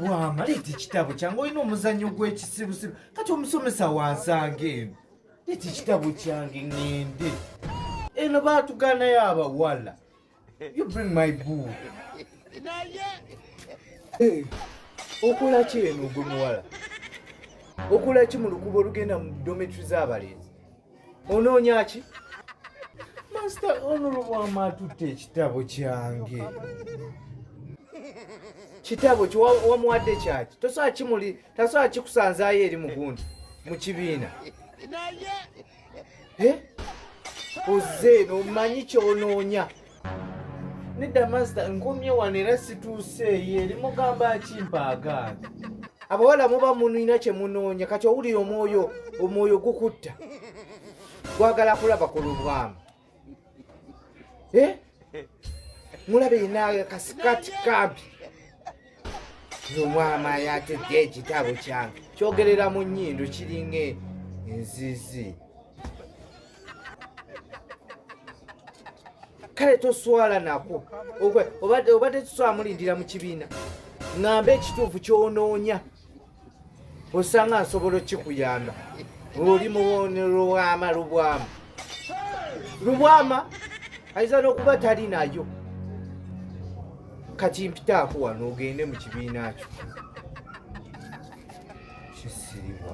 wama leeta ekitabo kyange olina omuzannyo gw'ekisibusibu kati omusomesa wansanga eno leeta ekitabo kyange ŋende eno baatuganayo abawala you bring my book eh, okola ki eno ogwe muwala okola ki mu lukuba olugenda mu dometri z'abalenzi onoonyaki masita onolobwama atutte ekitabo kyange kitabo wamuwadde kyaki tosobola kimuli tasobola kikusanzaayo eri mugundi mu kibiina ozze nomanyi kyonoonya nedda masita nkomye wano era situuseeyo eri mugamba akimpaagaana abawala muba munina kye munoonya kati owulira omwoyo omwoyo gukutta gwagala kulaba ku lubwamu eh? mulabe yina kasikati kampi nomwama yatudde ekitabo kyange kyogerera mu nyindo kiringa enzizi kale toswala nako obadde tuswala mulindira mu kibiina ŋamba ekituufu kyonoonya osanga nsobola okikuyamba oli mulubwama lubwama lubwama ayinza n'okuba tali nayo kati mpitaako wano ogende mu kibiina kyo kisiribwa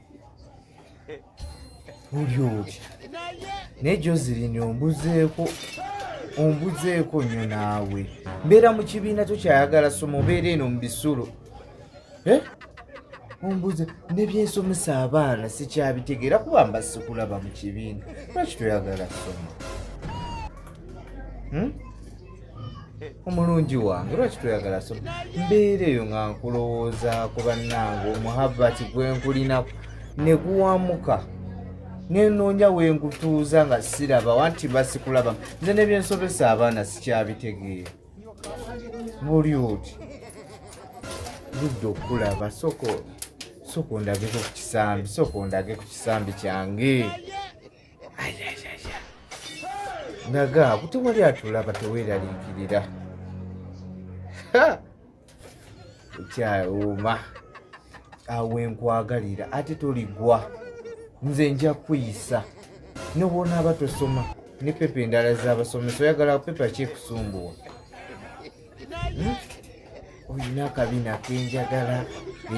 olyoki naye joselin ombuzeeko ombuzeeko nnyo naawe mbeera mu kibiina tokyayagala soma obeera eno mu bisulo eh? ombuze nebyensomesa abaana sikyabitegeera kuba mba sikulaba mu kibiina lwaki toyagala soma hmm? omulungi wange lwaki toyagala so mbeera eyo nga nkulowooza ku bannange omuhabbati gwe nkulinaku ne guwamuka nenoonya wengutuuza nga siraba wanti basikulaba nze nebyensobesa abaana sikyabitegeera muli oti ludde okukulaba soko soko ndageko ku kisambi soko ndage ku kisambi kyange naga kuti wali atulaba teweraliikirira ekyawuuma awe nkwagalira ate toligwa nze nja kuyisa nobwonaaba tosoma ne pepa endala zabasomesa oyagala pepa kyekusumbuwa olina akabina kenjagala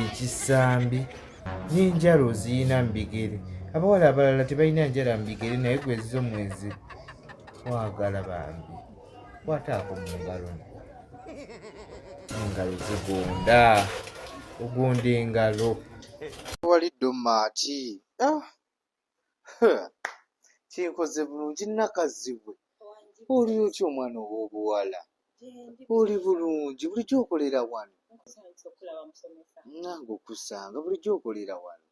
ekisambi n'enjala oziyina mu bigere abawala abalala tebalina njala mu bigere naye gwezizo mwezi wagala bambi kwataako mu ngalo engalo zigonda ogonda engalo walidde omaati ah! kinkoze bulungi nakazibwe oli otya omwana ow'obuwala oli bulungi bulijjo okolera wano nange okusanga bulijjo okolera wano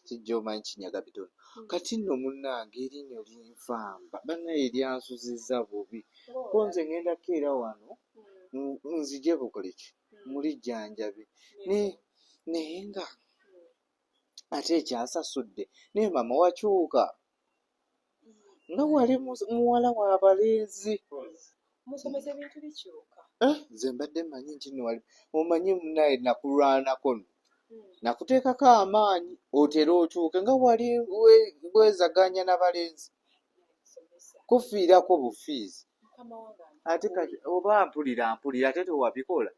kijja omanyi kinyaga bitono hmm. kati nno munnange erinyo linfamba banaye lyansuziza bubi ko nze ŋendako era wano hmm. nzije bukoleki hmm. muli jjanjabi naye nga ate ekyasasudde naye mama wakyuka nga wali muwala wabalenzi musomesa ebintu bikyuka eh, nze mbadde manyi nti nwali omanyi munaye nakulwanako no hmm. nakuteekako amaanyi otera okyuke nga wali bwezaganya nabalenzi kufiirako bufiizi ate kati oba mpulira mpulira ate tewabikola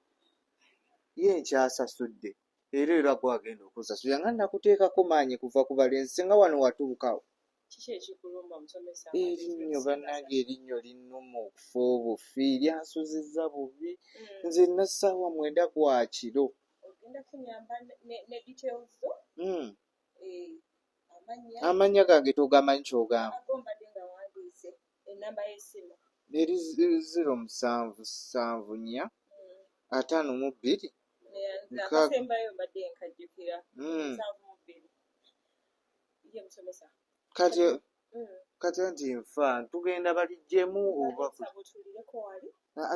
ye nkyasasudde Era era gwe agenda okusasula nga nakuteekako maanyi kuva ku balenzi singa wano watuukawo. Kiki ekikulumba musomesa? Erinnyo bannange erinnyo linnuma okufa obufi lyansuzizza bubi mm. nze nna ssaawa mwenda gwa kiro. Ogenda kunyamba ne details zo? Mm. Eh, amannya gange togamanyi kyogamba? Eri ziro musanvu sanvu nnya ataano mu bbiri mukaaga kati kati nti nfa tugenda balijjemu oba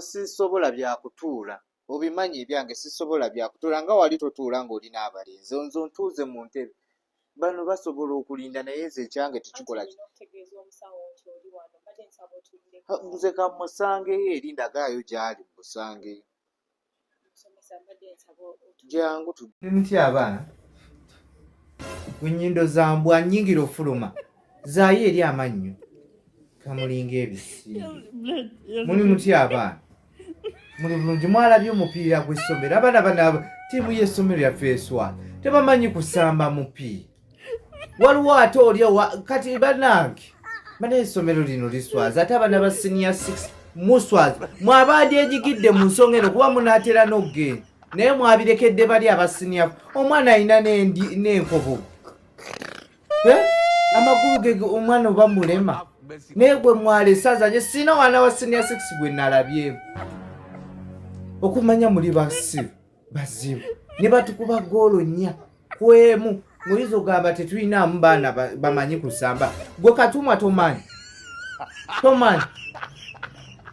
sisobola byakutuula obimanyi ebyange sisobola byakutuula nga wali totuula ng'oli n'abalenzi nze ntuuze mu ntebe bano basobola okulinda naye nze ekyange tekikola nze kamusangeyo eri ndagaayo gyali musangeyo jangu tmutya abaana enyindo zambwa nyingira ofuluma zaayo eri amannyo kamulinga ebisiibo muli mutya abaana muli bulungi mwalabye omupiira gw'essomero abaana bana tiimu y'essomero yaffe eswala tebamanyi kusamba mupiira waliwo ate olya kati banange bana essomero lino liswaza ate abaana ba siniya 6 muswaza mwabandi ejigidde mu nsonga eno kuba munaatera n'okugenda naye mwabirekedde bali abasiniya omwana alina n'enkobogo eh? amakulu gege omwana oba mulema naye gwe mwalesaza nye sina wana wa senior six gwe nalabyeemu okumanya muli basiru bazibu ne batukuba goolo nnya kwemu muyinza ogamba tetulinaamu baana bamanyi kusamba gwe katumwa tomanyi tomanyi